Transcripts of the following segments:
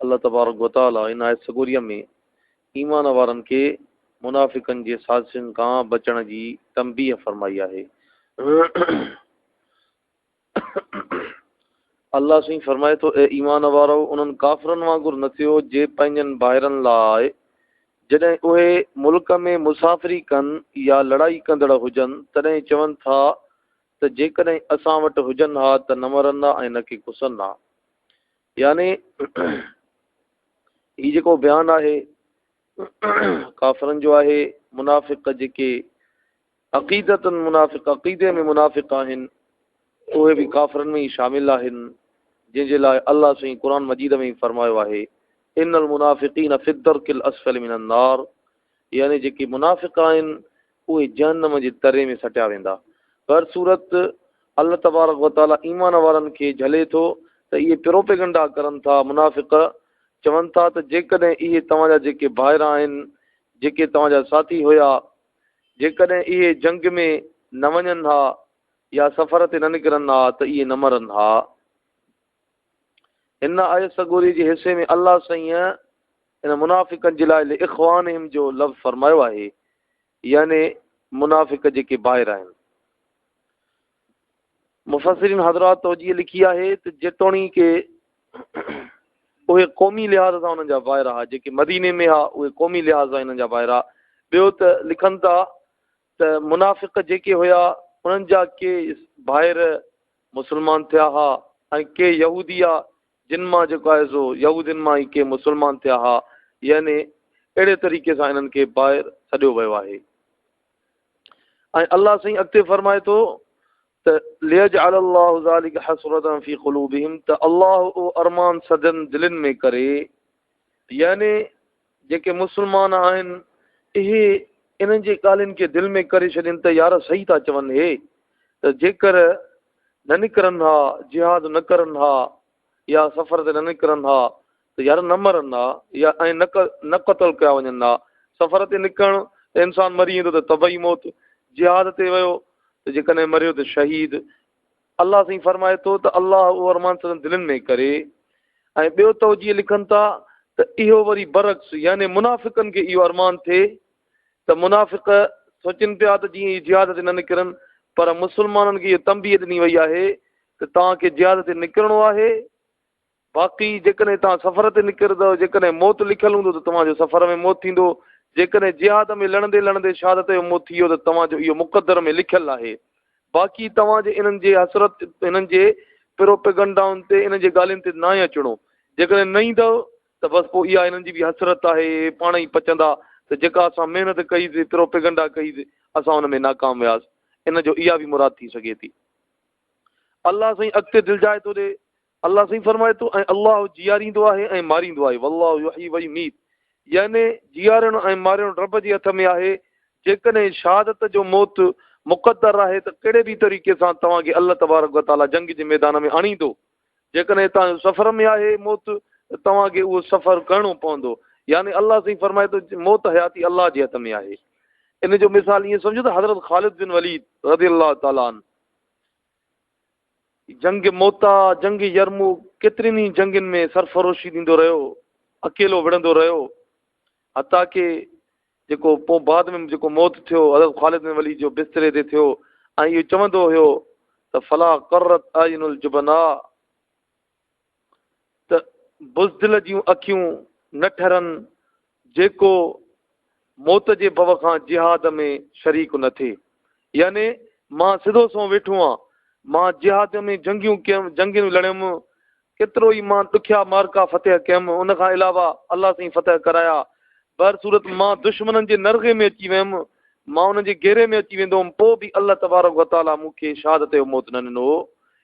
الله تبارڪ و تعاليٰ ان آيت سڳوريء ۾ ايمان وارن کي منافقن جي سازشن کان بچڻ جي تنبيهه فرمائي آهي. الله سائين فرمائي ٿو، اي ايمان وارؤ! انهن ڪافرن وانگر نه ٿيو جي پنهنجن ڀائرن لاء جڏهن اهي ملڪ ۾ مسافري ڪن يا لڙائي ڪندڙ هجن تڏهن چون ٿا ته جيڪڏهن اسان وٽ هجن ها ته نه مرندا ۽ نه ڪي کسن ها. يعني هي جيڪو بيان آهي ڪافرن جو آهي منافق جيڪي عقيدتن منافق عقيدي ۾ منافق آهن اهي به ڪافرن ۾ ئي شامل آهن جن جي لاء الله سائين قرآن مجيد ۾ ئي فرمايو آهي ان المنافقين في الدرك الاسفل من النار يعني جيڪي منافق آهن اهي جهنم جي تري ۾ سٽيا ويندا. بهرصورت الله تبارڪ و تعالي ايمان وارن کي جهلي ٿو ته اهي پروپيگنڊا ڪرن ٿا، منافق چون ٿا ته جيڪڏهن اهي توهان جا جيڪي ڀائر آهن، جيڪي توهان جا ساٿي هيا، جيڪڏهن اهي جنگ ۾ نه وڃن ها يا سفر تي نه نڪرن ها ته اهي نه مرن ها. هن آيت سڳوري جي حصي ۾ الله سائين ان منافقن جي لاء اخوانهم جو لفظ فرمايو آهي يعني منافق جيڪي باهر آهن مفسرين حضرات توجيه لکي آهي ته جيتوڻيڪ اهي قومي لحاظ سان انهن جا باهر آهي جيڪي مديني ۾ آهي اهي قومي لحاظ سان انهن جا باهر آهي ٻيو ته لکن ٿا ته منافق جيڪي هيا انهن جا ڪي ڀائر مسلمان ٿيا ها ۽ ڪي يهودي ها جن مان جيڪو آهي سو يهودين مان ئي ڪي مسلمان ٿيا ها يعني اهڙي طريقي سان انهن کي ڀائر سڏيو ويو آهي ۽ الله سائين اڳتي فرمائي ٿو ته ليجعل الله ذلك حسرة في قلوبهم ته الله او ارمان سدن دلن ۾ ڪري يعني جيڪي مسلمان آهن، اهي انهن جي ڳالهين کي دل ۾ ڪري ڇڏين ته يار صحيح ٿا چون هي ته جيڪر نه نڪرن ها، جهاد نه ڪرن ها يا سفر تي نه نڪرن ها ته يار نه مرن ها يا ائين نه قتل ڪيا وڃن ها. سفر تي نڪرڻ ته انسان مري ويندو ته طبعي موت، جهاد تي ويو ته جيڪڏهن مريو ته شهيد، الله سائين فرمائي ٿو ته الله اهو ارمان سندن دلين ۾ ڪري ۽ ٻيو توجيه لکن ٿا ته اهو وري برعڪس يعني منافقن کي اهو ارمان ٿئي ته منافق سوچن پيا ته جيئن هي جهاد تي نه نڪرن پر مسلمانن کي اهو تنبيه ڏني وئي آهي ته توهان کي جهاد تي نڪرڻو آهي باقي جيڪڏهن توهان سفر تي نڪرندؤ، جيڪڏهن موت لکيل هوندو ته توهان جو سفر ۾ موت ٿيندو، جيڪڏهن جهاد ۾ لڙندي لڙندي شهادت جو موت ٿي ويو ته توهان جو اهو مقدر ۾ لکيل آهي. باقي توهان جي انهن جي حسرت، انهن جي پروپيگنڊائن تي، انهن جي ڳالهين تي ناهي اچڻو. جيڪڏهن نه ايندؤ ته بس پوء اها انهن جي به حسرت آهي، پاڻ ئي پچندا ته جيڪا اسان محنت ڪئي سي، پروپيگنڊا ڪئي سي، اسان ان ۾ ناڪام وياسي. ان جو اها به مراد ٿي سگهي ٿي. الله سائين اڳتي دلجائي ٿو ڏي. الله سائين فرمائي ٿو ۽ الله جياريندو آهي ۽ ماريندو آهي والله يحيي ويميت يعني جيارڻ ۽ مارڻ رب جي هٿ ۾ آهي جيڪڏهن شهادت جو موت مقدر آهي ته ڪهڙي به طريقي سان توهان کي الله تبارڪ وتعاليٰ جنگ جي ميدان ۾ آڻيندو جيڪڏهن هتان جو سفر ۾ آهي موت ته توهان کي اهو سفر ڪرڻو پوندو يعني الله سائين فرمائي ٿو موت حياتي الله جي هٿ ۾ آهي ان جو مثال ائين سمجھو ته حضرت خالد بن وليد رضي الله تعاليٰ عنه جنگ موتا، جنگ يرموڪ، ڪيترين ئي جنگين ۾ سرفروشي ڏيندو رهيو، اڪيلو وڙهندو رهيو، حتيٰ ڪي جيڪو پوء بعد ۾ جيڪو موت ٿيو حضرت خالد بن وليد جو بستري تي ٿيو ۽ اهو چوندو هيو ته فلا قرت اعين الجبناء ته بزدل جون اکيون نه ٺرن، جيڪو موت جي ڀؤ کان جهاد ۾ شريڪ نه ٿئي. يعني مان سڌو سنئون ويٺو آهيان، مان جهاد ۾ جنگيون ڪيم، جنگيون لڙيم، ڪيترو ئي مان ڏکيا معرڪا فتح ڪيم، ان کان علاوه الله سائين فتح ڪرايا، بهر صورت مان دشمنن جي نرغي ۾ اچي ويم، مان انهن جي گهيري ۾ اچي ويندو هوم، پوء به الله تبارڪ وتعاليٰ مون کي شهادت جو موت نه ڏنو هو،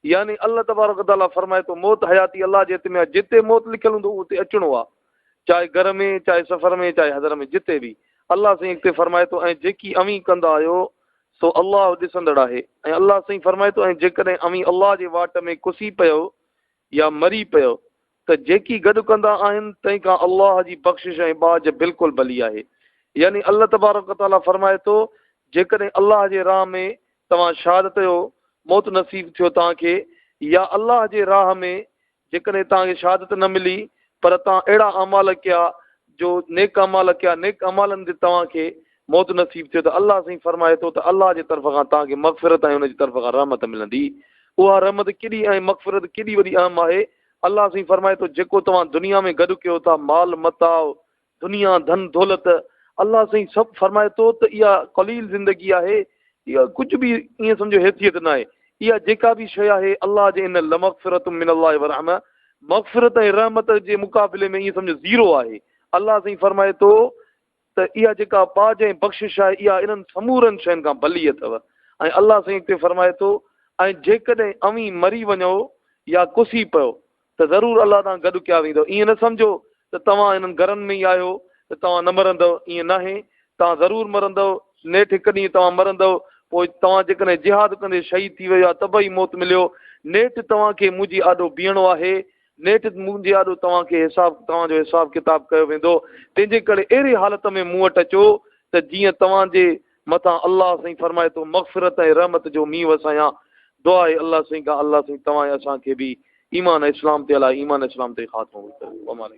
يعني الله تبارڪ و تعاليٰ فرمائي ٿو، موت حياتي الله جي هٿ ۾ آهي، جتي موت لکيل هوندو اتي اچڻو آهي، چاهي گهر ۾ چاهي سفر ۾ چاهي حضر ۾ جتي به. الله سائين اڳتي فرمائي ٿو، ۽ جيڪي اوهين ڪندا آهيو سو الله ڏسندڙ آهي. ۽ الله سائين فرمائي ٿو، ۽ جيڪڏهن اوهين الله جي واٽ ۾ ڪسي پيؤ يا مري پيؤ ته جيڪي گڏ ڪندا آهن تنهن کان الله جي بخشش ۽ ٻاجهه بلڪل ڀلي آهي يعني الله تبارڪ و تعاليٰ فرمائي ٿو جيڪڏهن الله جي راهه ۾ توهان شهادت جو موت نصيب ٿيو توهان کي يا الله جي راهه ۾ جيڪڏهن توهان کي شهادت نه ملي پر توهان اهڙا اعمال ڪيا جو نيڪ اعمال ڪيا نيڪ اعمالن تي توهان کي موت نصيب ٿيو ته الله سائين فرمائي ٿو ته الله جي طرف کان توهان کي مغفرت ۽ ان جي طرف کان رحمت ملندي اها رحمت ڪيڏي ۽ مغفرت ڪيڏي وڏي اهم آهي الله سائين فرمائي ٿو جيڪو توهان دنيا ۾ گڏ ڪيو ٿا مال متاع دنيا ڌن دولت الله سائين سڀ فرمائي ٿو ته اها قليل زندگي آهي اها ڪجهه به ائين سمجھو حيثيت نه آهي اها جيڪا به شيء آهي الله جي ان لمغفرت من الله ورحمه مغفرت ۽ رحمت جي مقابلي ۾ ائين سمجھو زيرو آهي الله سائين فرمائي ٿو ته اها جيڪا ٻاجهه ۽ بخشش آهي اها انهن سمورن شين کان ڀلي اٿو ۽ الله سائين اڳتي فرمائي ٿو ۽ جيڪڏهن اوهين مري وڃو يا ڪسي پيو ته ضرور الله تان گڏ ڪيا ويندؤ ائين نه سمجهو ته توهان انهن گهرن ۾ ئي آهيو ته توهان نه مرندؤ ائين ناهي توهان ضرور مرندؤ نيٺ هڪ ڏينهن توهان مرندؤ پوء توهان جيڪڏهن جهاد ڪندي شهيد ٿي ويو يا طبعي موت مليو نيٺ توهان کي منهنجي آڏو بيهڻو آهي نيٺ مون جي آڏو توهان کي حساب توهان جو حساب ڪتاب ڪيو ويندو تنهن جي ڪري اهڙي حالت ۾ مون وٽ اچو ته جيئن توهان جي مٿان الله سائين فرمائي ٿو مغفرت ۽ رحمت جو مينهن وسايان دعا آهي الله سائين کان الله سائين توهان ۽ اسان کي به ايمان ۽ اسلام تي الله ايمان ۽ اسلام تي خاتمو ڪريو